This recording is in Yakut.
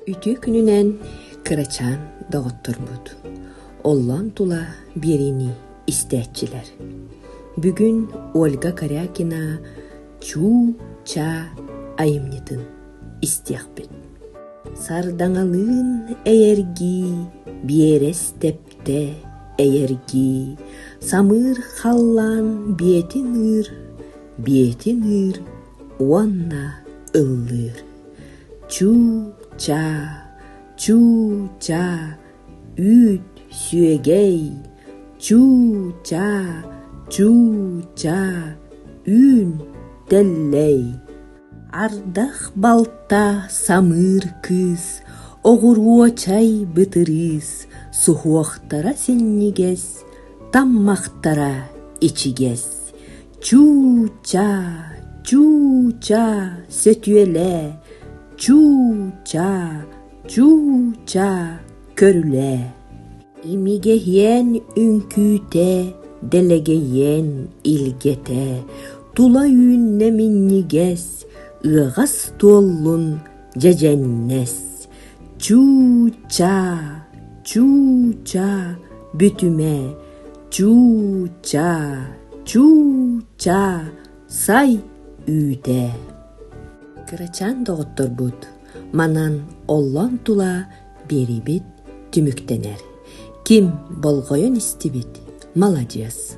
Үтүө күнүнэн, кырачаан доҕотторбут, оллоон тула биэриини истээччилэр. Бүгүн Ольга Корякина «Чуу-чаа» айымньытын истиэхпит. Сардаҥалыын эйэргии биэрэс тэп Дэ эйэргии самыыр халлаан биэтин ыыр, биэтин ыыр уонна ыллыыр. Чуу-чаа, чуу-чаа, үүт, сүөгэй, чуу-чаа, чуу-чаа, үүн, тэллэй. Ардах балта самыыр кыыс, оҕуруо чай бытырыыс, суһуохтара синньигэс, таммахтара ичигэс. Чуу-чаа, чуу-чаа, сөтүөлээ, чуу-чаа, чуу-чаа. көрүлээ, имигэһиэн үҥкүүтэ, дэлэгэйиэн илгэтэ, тула үүннэ минньигэс, ыаҕас туоллун дьэдьэннэс. Чuu-чаа, чuu-чаа бүтүмэ, чuu-чаа, чuu-чаа сай үүтэ. Кырачаан доҕотторбут манан оллон тула биэриибит түмүктэнэр. Ким болҕойон истибит – маладьыас!